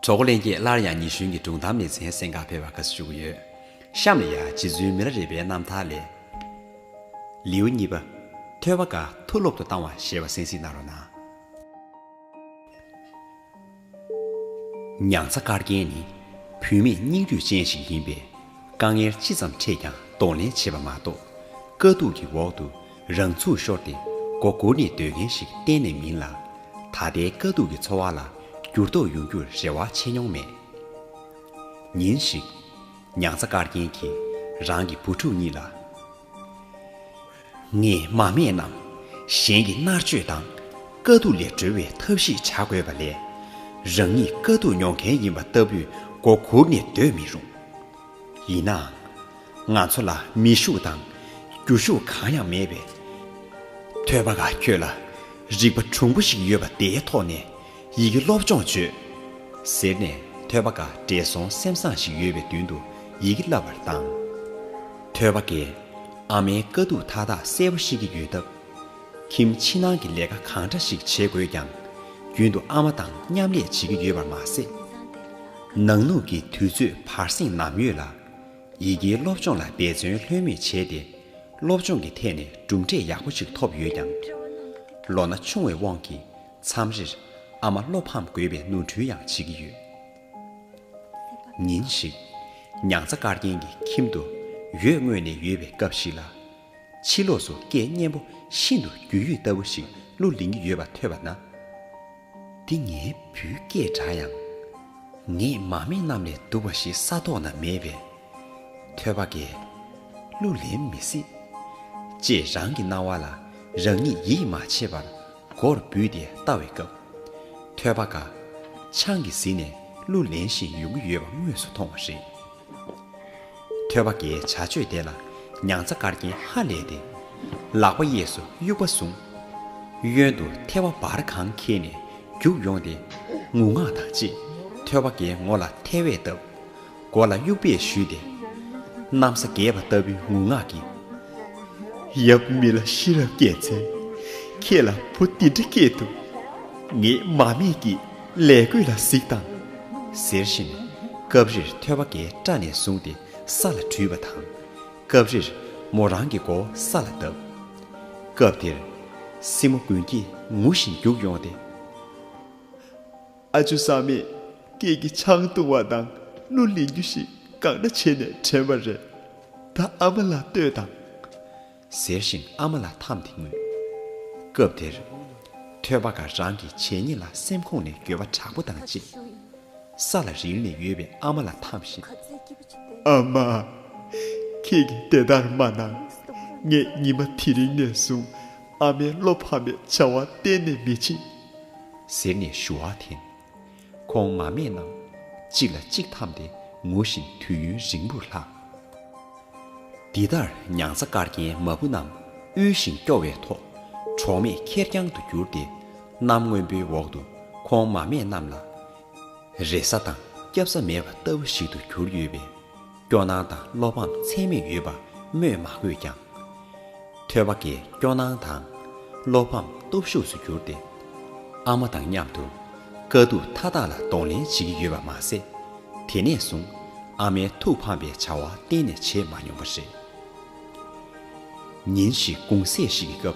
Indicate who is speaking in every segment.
Speaker 1: གྲོགས་ལེན་རྗེས་སླར་ཡང་ཉི་གཞོན་གྱི་སྒྲུང་གཏམ་ལེ་ཚན་གསན་ཁང་ཕེབས་པར་དགའ་བསུ་ཞུ་གི་ཡོད། གཤམ་ལ་ཡང་རྗེ་བཙུན་མི་ར་རི་པའི་རྣམ་ཐར་ལས། ལེའུ་གཉིས་པ། ཐོས་པ་འགའ་མཐུ་སློབ་ཏུ་བཏང་བ་ཞེས་པ་གསན་གཟིགས་གནང་རོགས་གནང། མྱང་ཚ་དཀར་རྒྱན་ནི་བུད་མེད་སྙིང་རུས་ཅན་ཞིག་ཡིན་པས། དཀའ་ངལ་ཅི་ཙམ་འཕྲད་ཀྱང་གདོང་ལེན་བྱེད་པ་མ་གཏོགས། དཀའ་སྡུག་གི་འོག་ཏུ་རང་ཚུགས་ཤོར་ཏེ་མགོ་སྒུར་ནས་སྡོད་མཁན་ཞིག་གཏན་ནས་མིན་ལ། ད་ལྟའི་དཀའ་སྡུག་གི་འཚོ་བ་ལ་འགྱུར་ལྡོག་ཡོང་རྒྱུར་རེ་བ་ཆེ་མྱོང་མེད། ཉིན་ཞིག། མྱང་ཚ་དཀར་རྒྱན་གྱིས་རང་གི་བུ་ཕྲུག་གཉིས་ལ། ངས་མ་སྨད་རྣམས་གཞན་གྱི་མནར་གཅོད་དང་དཀའ་སྡུག་ལས་སྒྲོལ་བའི་ཐབས་ཤེས་བྱ་དགོས་པ་ལས། རང་ཉིད་དཀའ་སྡུག་མྱོང་མཁན་ཡིན་པ་ལྟ་བུས་མགོ་སྒུར་ནས་སྡོད་མི་རུང། ཡིན་ནའང། ང་ཚོ་ལ་མི་ཤུགས་དང་རྒྱུ་ཤུགས་གང་ཡང་མེད་པས། ཐོས་པ་ལ་ཁྱོད་ལ་རིག་པ་གྲུང་པོ་ཞིག་ཡོད་པ་དེའི་ཐོག་ནས་ཡི་གེ་སློབ་སྦྱོང་བྱོས། ཟེར་ནས་ཐོས་པ་འགའ་བགྲེས་སོང་སེམས་བཟང་ཞིག་ཡོད་པའི་མདུན་དུ་ཡི་གེ་བསླབ་པར་བཏང། ཐོས་པ་འགས་ཨ་མའི་དཀའ་སྡུག་མཐའ་དག་གསལ་པོ་ཤེས་ཀྱི་ཡོད་སྟབས། ཁྱིམ་ཕྱི་ནང་གི་ལས་ཀ་གང་འདྲ་ཞིག་བྱེད་དགོས་ཀྱང། རྒྱུན་དུ་ཨ་མ་དང་མཉམ་ལས་བྱེད་ཀྱི་ཡོད་པར་མ་ཟད། ནང་ལུགས་ཀྱི་དུས་ཚོད་བར་གསེང་ནམ་ཡོད་ལ། ཡི་གེའི་སློབ་སྦྱོང་ལ་འབད་བརྩོན་ལྷོད་མེད་བྱས་ཏེ། སློབ་སྦྱོང་གི་ཐད་ནས་གྲུབ་འབྲས་ཡག་པོ་ཞིག་ཐོབ་ཡོད་ཀྱང། ལོ་ན་ཆུང་བའི་དབང་གིས་མཚམས་རེར་ཨ་མ་བློ་ཕམ་དགོས་པའི་ནོར་འཁྲུལ་ཡང་བྱེད་ཀྱི་ཡོད། ཉིན་ཞིག། མྱང་ཚ་དཀར་རྒྱན་གྱི་ཁྱིམ་དུ་ཡོས་བརྔོས་ནས་ཡོད་པའི་སྐབས་ཤིག་ལ། ཕྱི་ལོགས་སུ་སྐད་སྙན་པོ་ཤིན་ཏུ་རྒྱུས་ཡོད་ལྟ་བུ་ཞིག་གླུ་ལེན་གྱི་ཡོད་པ་ཐོས་པ་ན། འདི་ངའི་བུའི་སྐད་འདྲ་ཡང། ངས་མ་སྨད་རྣམས་ལས་སྡུག་པ་ཞིག་ས་ཐོག་ན་མེད་པས། ཐོས་པ་འགས། གླུ་ལེན་མི་སྲིད། ཅེས་རང་གི་སྣང་བ་ལ་རང་ཉིད་ཡིད་མ་ཆེས་པར་མགོར་འབུད་དེ་ལྟ་བའི་སྐབས། ཐོས་པ་འགའ། ཆང་གིས་བཟི་ནས་གླུ་ལེན་བཞིན་ཡོང་གི་ཡོད་པ་དངོས་སུ་མཐོང་བ་རེད། ཐོད་པ་འགའི་བྱ་སྤྱོད་དེ་ལ། མྱང་ཚ་དཀར་རྒྱན་ཧ་ལས་ཏེ། ལག་པ་གཡས་སུ་དབྱུག་པ་བཟུང། གཡོན་དུ་ཐལ་བ་འབར་གང་འཁྱིལ་ནས་རྒྱུགས་ཡོང་སྟེ། ངུ་ངག་དང་བཅས་ཐོད་པ་འགའི་ངོ་ལ་ཐལ་བས་བཏབ། མགོ་ལ་དབྱུག་པས་གཞུས་ཏེ། གནམ་ས་འགས་པ་ལྟ་བུའི་ངུ་ངག་གིས། ཡབ་མི་ལ་ཤེས་རབ་སྐྱེས་ཚེ། ཁྱེད་ལ་བུ་འདི་འདྲ་སྐྱེས་འདུག། ངས་མ་སྨྲས་ཀྱིས། ལས་རྒོད་ལ་གཟིགས་དང། ཟེར་བཞིན་སྐབས་རེར་ཐོད་པ་འགའི་སྐྲ་ནས་བཟུང་སྟེ་ས་ལ་བྲུས་པ་དང། སྐབས་རེར་མོ་རང་གི་མགོ་ས་ལ་བརྡབ། སྐབས་དེར། སྲིང་མོ་དགུན་སྐྱིད་ངུ་བཞིན་བརྒྱུགས་ཡོང་སྟེ། ཨ་ཅོ་བཟའ་མས་སྐད་ཀྱི་ཆང་བཏུང་བ་དང་གླུ་ལེན་རྒྱུ་ཞིག་གང་འདྲ་བྱས་ནས་དྲན་པ་རེད། ད་ཨ་མ་ལ་ལྟོས་དང། ཟེར་བཞིན་ཨ་མ་ལ་འཐམས་ཏེ་ངུས། སྐབས་དེར། ཐོས་པ་འགའ་རང་གི་བྱས་ཉེས་ལ་སེམས་ཁོང་ནས་འགྱོད་པ་དྲག་པོ་དང་བཅས། ས་ལ་རིལ་ནས་ཡོད་པའི་ཨ་མ་ལ་འཐམས་བཞིན། ཨ་མ། ཁྱེད་ཀྱིས་དེ་ལྟར་མ་གནང། ངས་ཉི་མ་དེ་རིང་ནས་བཟུང་ཨ་མའི་བློ་ཕམ་པའི་བྱ་བ་གཏན་ནས་མི་བྱེད། ཟེར་ནས་ཞུ་བ་འཐེན། གོང་མ་མེད་རྣམས་གཅིག་ལ་གཅིག་འཐམ་སྟེ་ངུ་བཞིན་དུས་ཡུན་རིང་པོར་ལྷགས། འདི་ལྟར་མྱང་ཚ་དཀར་རྒྱན་མ་བུ་རྣམས་དབུལ་ཞིང་སྐྱོ་བའི་ཐོག་གྲོགས་མེད་ཁེར་རྐྱང་དུ་གྱུར་ཏེ། གནམ་སྔོན་པོའི་འོག་ཏུ་གོང་མ་མེད་རྣམས་ལ་རེ་ས་དང་སྐྱབས་ས་མེད་པ་ལྟ་བུ་ཞིག་ཏུ་གྱུར་ཡོད་པས། སྐྱོ་སྣང་དང་བློ་ཕམ་ཚད་མེད་ཡོད་པ་སྨོས་མ་དགོས་ཀྱང། ཐོས་པ་འགའི་སྐྱོ་སྣང་དང་བློ་ཕམ་སྟོབས་ཤུགས་སུ་གྱུར་ཏེ། ཨ་མ་དང་མཉམ་དུ་དཀའ་སྡུག་མཐའ་དག་ལ་གདོང་ལེན་བྱེད་ཀྱི་ཡོད་པ་མ་ཟད། དེ་ནས་བཟུང་ཨ་མའི་ཐུགས་ཕམ་པའི་བྱ་བ་གཏན་ནས་བྱས་མ་མྱོང་བ་རེད། ཉིན་ཞིག་དགུང་ཟས་ཤིག་གི་སྐབས།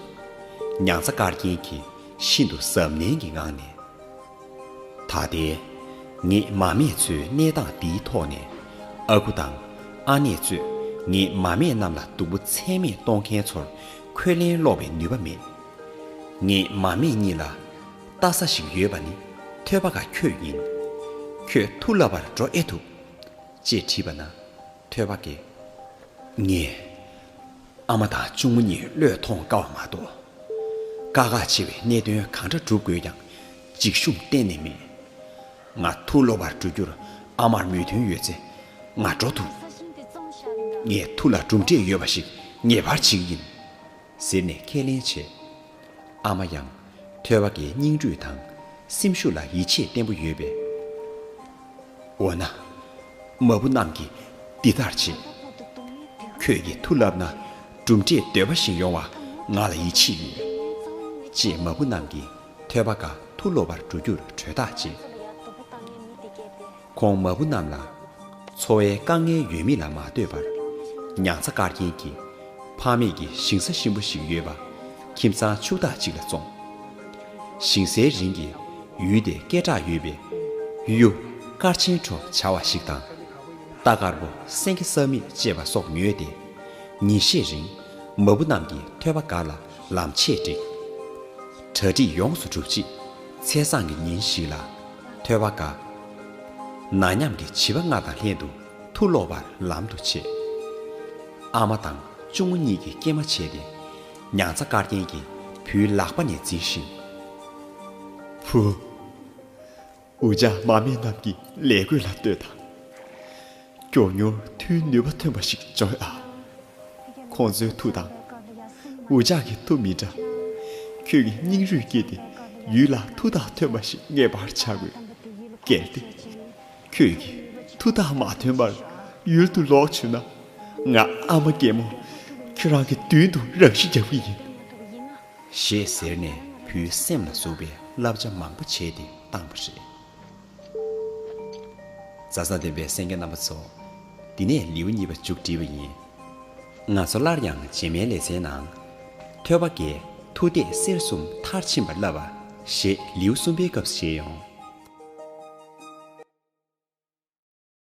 Speaker 1: མྱང་ཚ་དཀར་རྒྱན་གྱིས་ཤིན་ཏུ་གཟབ་ནན་གྱི་ངང་ནས། ད་ལྟའི་ངས་མ་སྨད་ཚོའི་གནས་སྟངས་འདིའི་ཐོག་ནས། ཨ་ཁུ་དང་ཨ་ནེ་གཙོས་ངས་མ་སྨད་རྣམས་ལ་སྡུག་པོ་ཚད་མེད་གཏོང་མཁན་ཚོར་ཁོས་ལན་སློག་པའི་ནུས་པ་མེད། ངས་མ་སྨད་གཉིས་ལ་ལྟ་ས་ཞིག་ཡོད་པ་ནི་ཐོས་པ་ག་ཁྱོད་ཡིན། ཁྱོད་ཐུགས་ལ་བར་འགྲོ་ཨེ་ཐུབ། ཅེས་དྲིས་པ་ན། ཐོས་པ་དགེ། ངས། ཨ་མ་དང་གཅུང་མོ་གཉིས་བློས་ཐོངས་དཀའ་བ་མ་གཏོགས། དཀའ་ཁག་ཆེ་བའི་གནད་དོན་གང་འདྲ་བསྒྲུབ་དགོས་ཀྱང་འཇིགས་ཞུམ་གཏན་ནས་མེད། ང་ཐུགས་ལོག་པར་འགྲོ་རྒྱུར་ཨ་མར་མོས་མཐུན་ཡོད་ཚེ་ང་འགྲོ་ཐུབ། ངས་ཐུགས་ལ་གྲུབ་འབྲས་ཡོད་པ་ཞིག་ངེས་པར་བྱེད་ཀྱི་ཡིན། ཟེར་ནས་ཁས་ལེན་བྱས། ཨ་མ་ཡང། ཐོས་བ་དགའི་སྙིང་རུས་དང། སེམས་ཤུགས་ལ་ཡིད་ཆེས་བརྟན་པོ་ཡོད་པས། འོ་ན། མ་བུ་རྣམས་ཀྱིས་འདི་ལྟར་བྱེད། ཁྱོད་ཀྱིས་མཐུ་བསླབས་ན་གྲུབ་འབྲས་འདོད་པ་བཞིན་ཡོང་བ་ང་ལ་ཡིད་ཆེས་ཡོད། ཅེས་མ་བུ་རྣམས་ཀྱིས་ཐོས་བ་དགའ་མཐུ་སློབ་པར་འགྲོ་རྒྱུར་གྲོས་ཐག་བཅད། གོང་མ་བུ་རྣམས་ལ། འཚོ་བའི་དཀའ་ངལ་ཡོད་མེད་ལ་མ་ལྟོས་པར། མྱང་ཚ་དཀར་རྒྱན་གྱི། ཕངས་མེད་ཀྱི་ཞིང་ས་གཤིན་པོ་ཞིག་ཡོད་པ། ཁྱིམ་ཚང་ཕྱུག་བདག་ཅིག་ལ་བཙོང། ཞིང་སའི་རིན་གྱི། ཡུལ་དེ་སྐད་གྲགས་ཡོད་པའི། གཡུ། སྐར་ཆེན་བྲོ་བྱ་བ་ཞིག་དང། རྟ་དཀར་པོ་སེང་གེ་སྲབ་མེད་ཅེས་པ་སོགས་ཉོས་ཏེ། ཉིན་ཤས་རིང། མ་བུ་རྣམས་ཀྱིས་ཐོད་པ་སྒར་ལ་ལམ་ཆས་བསྒྲིགས། གྲ་སྒྲིག་ཡོངས་སུ་གྲུབ་རྗེས། ཚེས་བཟང་གི་ཉིན་ཞིག་ལ། ཐོས་པ་འགའ། ན་མཉམ་གྱི་བྱིས་པ་ལྔ་དང་ལྷན་དུ་ཐུགས་བློ་བར་ལམ་དུ་བྱེད། ཨ་མ་དང་གཅུང་མོ་གཉིས་ཀྱིས་སྐྱེལ་མ་བྱས་ཏེ། མྱང་ཚ་དཀར་རྒྱན་གྱིས་བུའི་ལག་པ་ནས་འཛིན་བཞིན། བུ། འུ་ཅག་མ་སྨད་རྣམས་ཀྱིས་ལས་གོས་ལ་ལྟོས་དང། མགྱོགས་མྱུར་མཐུའི་ནུས་པ་ཐོན་པ་ཞིག་བྱུང་ཡོད་ཨ། ཁོང་ཚོའི་མཐུ་དང། འུ་ཅག་གི་མཐུ་མི་འདྲ། ཁྱོད་ཀྱིས་སྙིང་རུས་བསྐྱེད་དེ་ཡུལ་ལ་མཐུ་དག་ཐོན་པ་ཞིག་ངེས་པར་བྱ་དགོས། གལ་ཏེ། ཁྱོད་ཀྱིས་མཐུ་དག་མ་ཐོན་པར་ཡུལ་དུ་ལོག་བྱུང་ན། ང་ཨ་མ་རྒན་མོ་ཁྱོད་རང་གི་མདུན་དུ་རང་ཤི་རྒྱག་གི་ཡིན། ཞེས་ཟེར་ནས་བུའི་སེམས་ལ་ཟུག་པའི་བསླབ་བྱ་མང་པོ་བྱས་ཏེ་བཏང་བ་རེད། རྫ་ས་ལྡན་པའི་སེང་གེ་རྣམ་པ་ཚོ། འདི་ནས་ལེའུ་གཉིས་པ་མཇུག་སྒྲིལ་བ་ཡིན། ང་ཚོ་སླར་ཡང་རྗེས་མའི་ལེ་ཚན་ནང། ཐོས་པ་དགེ་མཐུ་བདེ་གསལ་གསུམ་མཐར་ཕྱིན་པར་བསླབ་པ། ཞེས་ལེའུ་གསུམ་པའི་སྐབས་བཞེས་ཡོང།